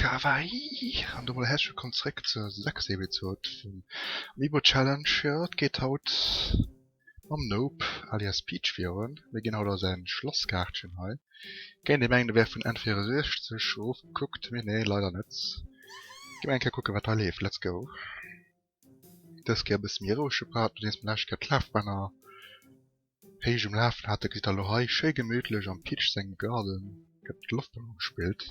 Kawaii! An domat herzlech wëllkomm zréck zur sechster Episod vum Amiibo Challenge. Jo, et geet haut mam Nope alias Peach virun. Mir ginn haut a säin Schlosskaartchen hei. Kéint ee mengen e wär vun N64 erofgekuckt, mee nee leider net. Gi mer eng Kéier kucken wat hei leeft, let's go! Dës Kéier e bësse méi rouege Part, nodeems mer d'lescht Kéier d'Lafbänner héich um Lafen haten, gesitt der elo hei schéi gemittlech am Pitch sengem Garden gëtt mat Loftballon gespillt.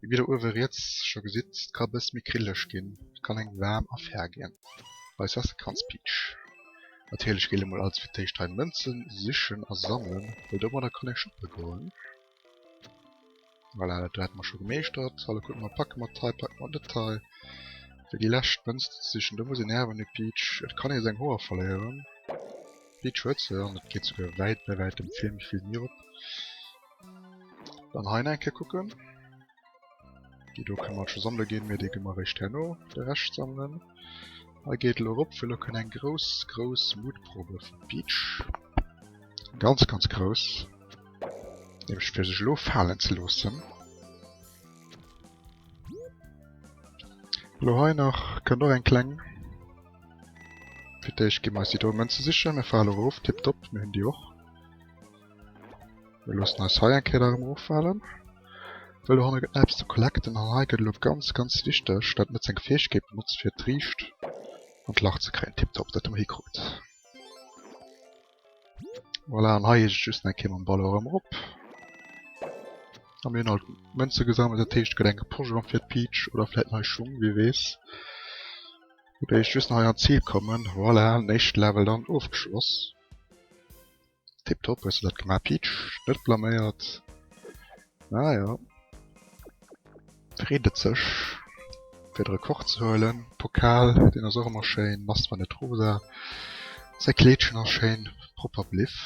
Mee wéi der uewe riets scho gesitt, et ka e bësse méi grillelech ginn, et kann eng waarm Affär ginn. Bei Sassekanspeach natierlech géillt ee mol als fir d'éischt hei Mënzen sichen a sammelen, well domadder kann ee shoppe goen. Voilà, dat do hätte mer scho gemeeschtert. Hallo, kucke mer, packe mer d'Tei, packe mer net d'Tei. Fir déi lescht Mënz ze sichen. Do muss een Äerwen hu Peach. Et kann ee seng Hoer verléieren. Peach huet se an et geet souguer wäit bei wäitem vill méi vill Mier op. Dann hei nach eng Kéier kucken. Déi do kënne mer scho sammele ginn, mee déi gi mer eréischt herno de Rescht sammelen. Hei geet elo erop, fir elo kënne eng grouss, grouss Mutprobe vum Peach. Ganz, ganz grouss. Nämlech fir sech elo falen ze loossen. Elo hei nach kënnt och eng kleng. Fir d'éischt gi mer eis déi do Mënze sichen. Mir fale erop, tipptopp, mir hunn déi och. Mir loossen eis hei eng Kéier nach ëmmer ofhalen. Well do hanne gëtt nach eppes ze collecten an hei gëtt elo ganz ganz wichteg, dat net seng Fäegkeet benotzt fir d'Riicht an d'Lacht ze kréien. Tiptop, dat hu mer hikrut. Voilà, an hei eescht just eng Kéier mam Ballon erëm erop. A mir hunn alt Mënze gesammelt, dat heescht et gëtt eng geposchelt am Fir d'Peach oder vläit nei Schung, wie weess. Mir eescht just nach hei an d'Zil kommen. Voilà, den éischte Level dann ofgeschloss. Tip top hues de dat gemaach Peach, net blaméiert. Naja. Freet et sech fir de Rekord ze huelen. Pokal, deen ass och ëmmer schéin, nass wann net rosa. Säi Kleedchen ass schéin propper bliff,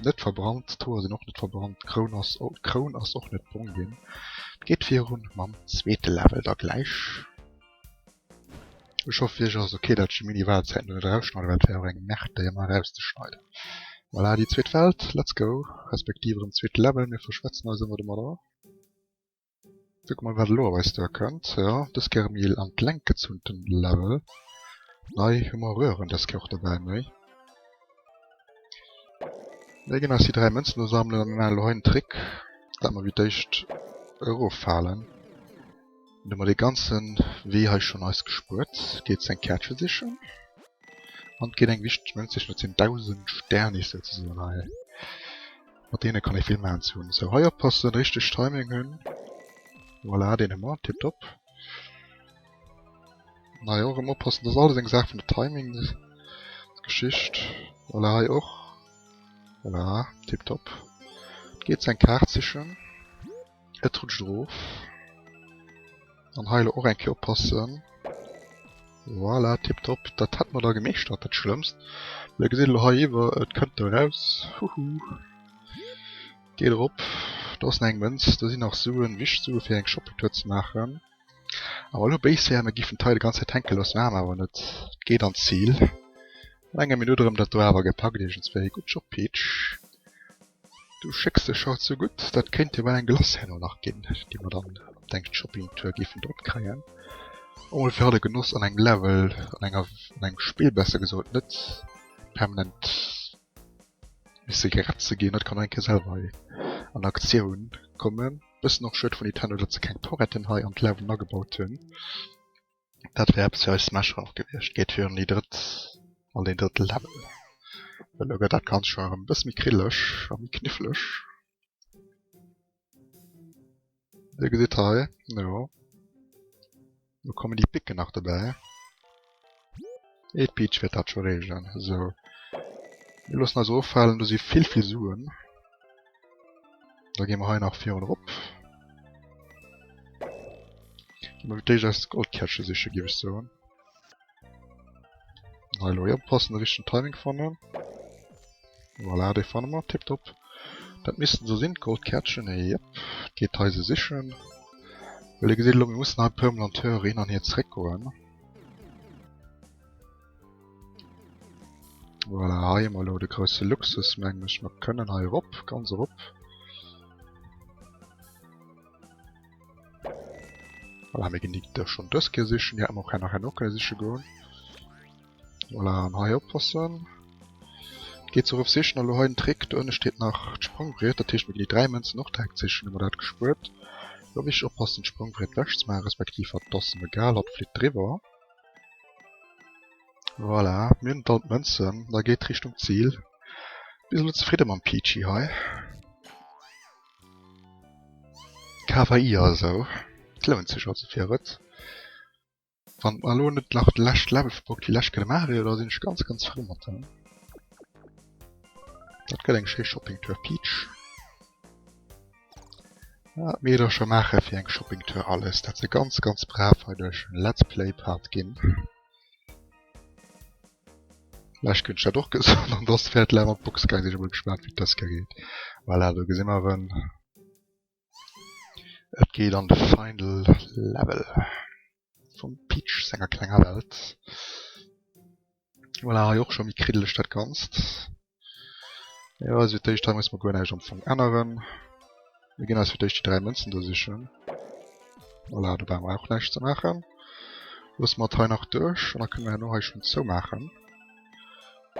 net verbrannt, d'Hoer sinn och net verbrannt, d'Kroun ass och, d'Kroun ass och net brong ginn. Et geet virun mam zweete Level da gläich. Ech hoffen ech ass ok dat ech déi mini Wahlzäiten do net erausschneiden, well dat wär jo eng Merde déi emmer erauszeschneiden. Voilà déi zweet Welt, let's go, respektiv erem zweete Level, mir verschwätzen eis emmer domadder. Kucken mol wat elo op eis duer kënnt, jo dës Kéier méi an d'Lenk gezunten Level, nei hu mer Röhren dës Kéier och dobäi méi. Mir ginn eis déi 3 Mënzen do sammelen an mir maachen elo hei en Trick dat mer wéi d'éischt erof falen. Hun der mer dee ganzen Wee hei schon eis gespuert. Geet seng Kärtchen sichen an geet eng wichteg Münz sichen. Dat sin 1000 Sternis souzesoen hei. Mat deene kann ee vill man zu hunn. Sou hei oppassen, richteg Timing hunn. Voilà deen hu mer, tiptop. An hei och erem oppassen. Dat ass alles eng Saach vun der Timingsgeschicht. Voilà hei och. Voilà tiptop. Geet seng Kaart sichen. Et rutscht erof. An hei elo och eng Kéier oppassen. Voilà, tiptop. Dat hätte mer da gemeeschtert, dat Schlëmmst. Mä Dir gesitt elo hei iwwer, et kënnt do eraus. Huhu. Geet erop. Do ass nach eng Mënz. Do sinn nach Suen, Wischtsue fir eng Shoppingtour ze maachen. Awer elo béis héieren, mer giffen d'Tei de ganz Zäit hänke loossen, awer awer net, et geet an d'Zil. No enger Minutt erëm dat do awer gepackt iergendswéi. Gutt Job Peach, du schécks dech haut sou gutt, dat kéint jo bal eng Glace herno nach ginn, déi mer dann op deng Shopping Tour giffen drop kréien. Och mol fir haut e Genoss an engem Level, an enger, an engem Spill besser gesot, net permanent misse gerett ze ginn. Haut kann een nach eng Kéier selwer hei an Aktioun kommen. Bëssen och schued vun Nintendo dat se keng Toretten hei an d'Lauwen agebaut hunn. Dat wär eppes fir eis Smasher och gewiescht. Geet virun déi drëtt an deen drëtte Level. Elo gëtt dat Ganzt schonn erëm e bësse méi krilleg a méi kniffleg. Dir gesitt hei, jo. Do kommen déi Picken nach dobäi. Et d'Peach wäert dat scho reegelen. Sou. Mir loossen eis offalen, do si vill vill Suen. Da gi mer hei nach virun erop. Gi mer fir d'éischt eis Goldkärsche siche, géif ech soen. Hallo, ja, passen richchten Timing fannen. Voilà, de fanne mat tipp top. Dat missten se sinn d'Goldkärtchen e yep. Geet hei se sichen. Well e gesit lo mir mussen hei permanent hör hin an hier zréck goen. Voilà, hei mal lo de grouse Luxus mengg mech mer kënnen hei erop ganz erop. Voilà, mir ginn déi da schonn dës Kéier sichen. Déi hätte mer och nach herno kënne siche goen. Voilà, an hei oppassen. Geet se eruf sichen. Elo hei den Trick, do ënne steet nach d'Sprongbriet. Dat heescht, mir ginn déi dräi Mënzen och direkt sichen, hu mer dat gespuert. Elo wichteg oppassen, d'Sprongbriet wech ze maachen, respektiv hatt, et ass em egal, hatt flitt driwwer. Voilà, mir hunn all d'Mënzen. Da geet Richtung Zil. Bis elo zefridde mam Peachy hei. KPI also, et lount sech also fir et. Wann et mer elo net nach de leschte Level vu Bock déi lescht kënne maache wier, da sinn ech ganz ganz frou mat der. Dat gëtt eng schéi Shopping Tour Peach. Wat mir da scho maache fir eng Shopping Tour alles, dat se ganz ganz brav hei duerch Let's Play Part ginn. Lech gëtt dat och gesot an dass fährt la mat Box geil sech mol gespannt wie d'Saskia geet. Voilà, do gesinn mer en. Et geet an de Final Level vum Peach senger klenger Welt. Voilà hei och scho méi kriddeleg dat Ganzt. Jo, also fir d'éischt hei muss mer guer näischt am Fong änneren. Mir ginn eis fir d'éischt déi dräi Mënzen do sichen. Voilà, do brauche mer och näischt ze maachen. Loosse mer et hei nach duerch an da kënne mer herno hei schonn zoumaachen.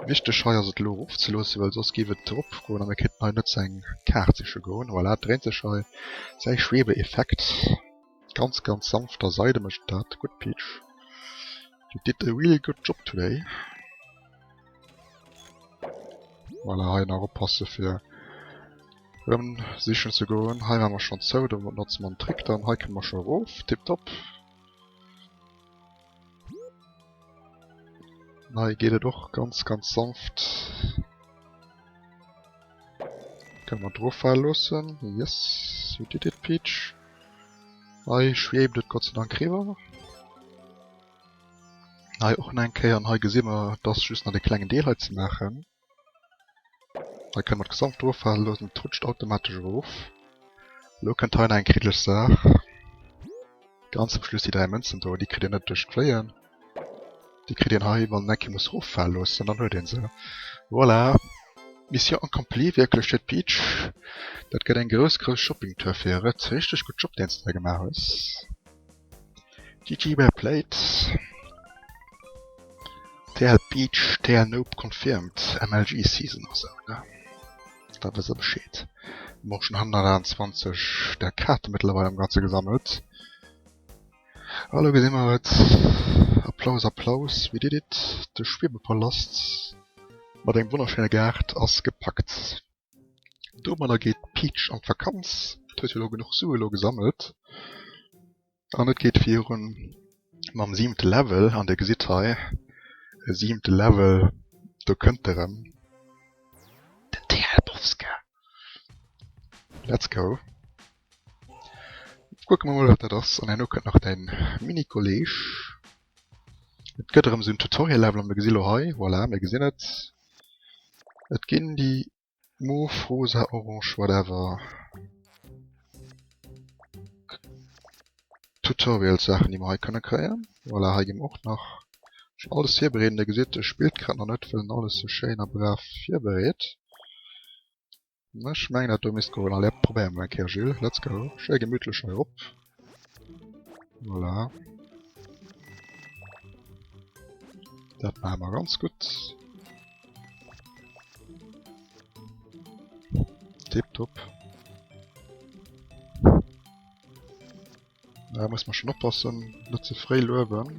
Wichteg hei ass et elo erofzeloossen, well soss géif et eropgoen a mir kéinten hei net zu engem Kaart siche goen. Voilà, et dréint sech hei, säi Schwebeeffekt. Ganz ganz sanft a Seide mécht dat gutt Peach. You did a really good job today. Voilà, hei nach oppasse fir rëm sichen ze goen. Hei war mer schonn zou, do notze mer den Trick dann. Hei kënne mer scho erof. Tipptopp. Hei geet et och ganz ganz sanft. Kënne mer droffale loossen. Yes, you did it Peach. Hei schwebt et Gottseidank eriwwer. Hei och nach eng Kéier an hei gesi mer, et ass just nach dee klengen Deel hei ze maachen. Hei kënne mer d'Gesamt drofaalen loossen, et rutscht automatesch erof. Elo kënnt hei nach eng kriddeleg Saach, ganz zum Schluss déi 3 Mënzen do, déi kritt een net duerch d'Fléien, déi kritt een hei wann een eng Kéier muss eroffaale loossen, dann huet een se. Voilà, Mission accomplie wierklech fir d'Peach, dat gëtt eng grouss grouss Shopping Tour fir e Rëtt, richteg gutt Job deen s de da gemaach hues. GG well played. TL Beach, TL Nope confirmed, MLG Season ass out ne? Da wëss der Bescheed. Mir hu schon 128 der Kaarte mëttlerweil am ganze gesammelt. Hallo gesi mer et. Applaus Applaus, we did it! De Schwiebepalast mat engem wonnerschéine Gaart ass gepackt. Domadder geet d'Peach an d'Vakanz. Et huet jo elo genuch Sue elo gesammelt. An et geet virun mam siwente Level. An Dir gesitt hei, e siwente Level, do kënnt e rëm, den Tealbowska. Let's go! Kucke mer mol, wat dat ass. An herno kënnt nach däi Mini-Kolleeg. Et gëtt erëm esou en Tutorial-Level. An mir gesi lo hei, voilà, mir gesinn et, Et ginn déi mauve, rosa, orange, whatever Tutorials-Saachen, déi mer hei kënne kréien. Voilà, hei gi mer och nach schonn alles virbereeden. Dir gesitt, e spillt grad nach net, well en alles sou schéin a brav virbereet. Ech mengen dat do misst goen. Allez op, probéiere mer eng Kéier Jules. Let's go. Schéi gemittlech hei erop. Voilà. Dat maache mer ganz gutt. Tipptopp. Da muss man schon oppassen, net ze fréi luewen.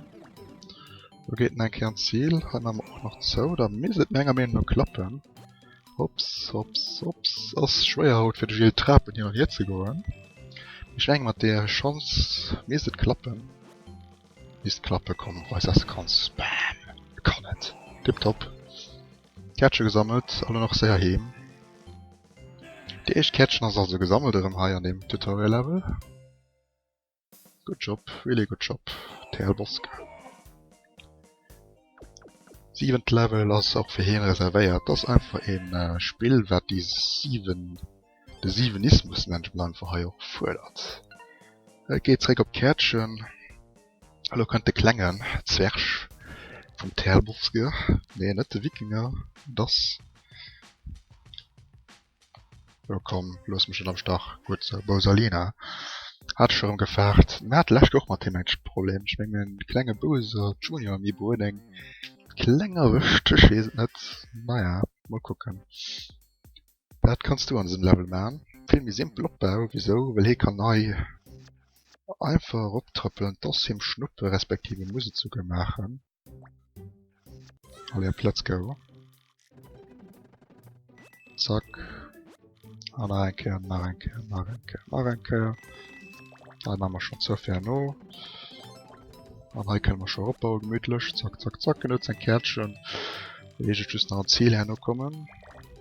Do geet en eng Kéier an d'Zil. Hei maache mer och nach zou. Da misst et menger Meenung no klappen. Hopps, hopps, hopps. Ass schwéier haut fir de Gilles d'Trapen hin an hier ze goen. Mee ech menge mat där Schanz misst et klappen. Misst klappen, komm, weis, dass de kanns. Bam! E kann et! Tiptop! Käertche gesammelt a lo nach séier heem. Déi éischt Käertchen ass also gesammelt erëm hei an deem Tutorial Level. Good job, really good job TLBosk. Siwent Level ass och fir hien reservéiert, ass einfach ee Spill wat déi 7. De Siwenismus nennt een einfach hei och fuerdert. Et geet zréck op d'Käertchen. Elo kënnt de klengen Zwerg vum Terlbosge, nee net de Wikinger, et ass, jo komm looss mech net am Stach, gutt esou, Bousalina hat ech erëm gefaart. Mir hate lescht Woch och mat him eng Problem, ech mengen den klenge Bowser Junior Amiibo huet eng kleng erwëscht, ech weess et net, naja mol kucken. Dat kanns du an dësem Level man, vill méi simpel Opbau, wisou? Well hie kann nei einfach erop trëppelen, t'ass him Schnuppe respektiv e muss et souguer maachen. Allez op let's go. Zack an nach eng Kéier, nach eng Kéier, nach eng Kéier, nach eng Kéier. Hei man mer schon zou fäer no. An hei kënne mer schon eropbauen gemütlech, zack zack zack. En huet säin Kärtchen, elo heescht et just nach an d'Zil herno kommen.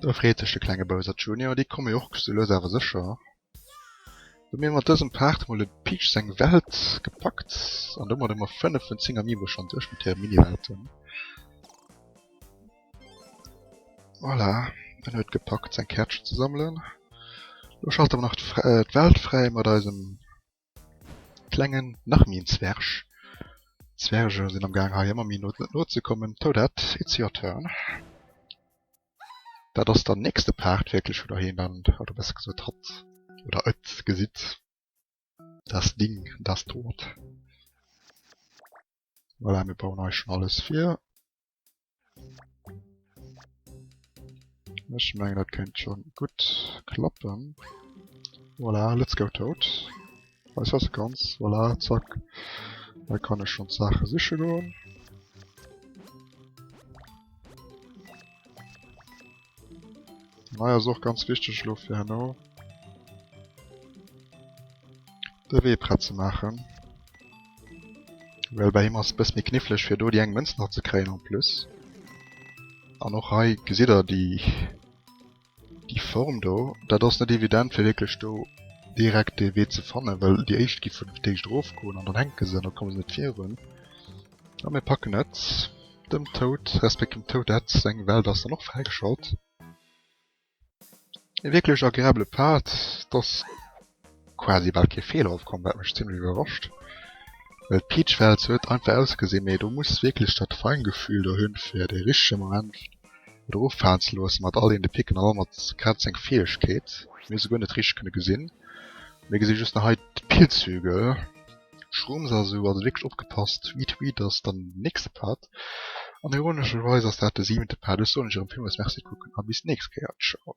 Do freet sech de klenge Bowser Junior, déi komme jo och sou lues awer sécher. Hu mir mat dësem Part mol de Peach seng Welt gepackt an domat hu mer 5 vun 10 Amiibo schonn duerch mat hire Mini-Welten. Voilà, en huet gepackt seng Käertchen ze sammelen. Elo schalten mer nach d'Welt fräi mat eisem Klengen, nach méi en Zwerg. Zwerge sinn am gaang hei emmer méi no no ze kommen. Toadette, it's your turn. Dat ass dann nächste Part wierklech wou der hien dann, oder besser gesot hatt oder et gesitt, das Ding, das Dort. Voilà, mir bauen eis schon alles fir. Ech meng dat kennt schon gut klappen. Voilà, let's go tot. Weiß was ganz, voilà, zack. Da kann ech schon Sache siche goen. Mei ass och ganz wichteg elo fir herno de Wee prett ze maachen. Well bei him ass bësse méi knifflech fir do déi eng Mënz nach ze kréien en plus. An och hei gesitt der déi déi Form do. Dat ass net evident fir wierklech do direkt dee Wee ze fannen, well déi éischt gi vun der Téischt erofgoen an dann hänke se an da komme se net virun. A mir packen et dem Toad, resp. Dem Toadette seng Welt ass dann och fräigeschalt. E wierklech agreabele Pad. Et ass quasi bal kee Feeler opkomm, wat mech zimlech iwwerrascht, well d'Peach Welt sou huet einfach ausgesinn, mee do muss wierklech dat Feingefühl der hunn, fir de richtege Moment et eroffalen ze loossen, mat all een de Picken an all mat grad seng Fäegkeet. Mir hu se guer net richteg kënne gesinn, mir gesi just nach hei d'Pillzügel. Schrumps also also wierklech opgepasst wie d'Weed ass dann den nächste Part an ironescherweis ass dat de siwente Part. Ech soen iech erëm villmools Merci kucken a bis d'nächst Kéier. Ciao.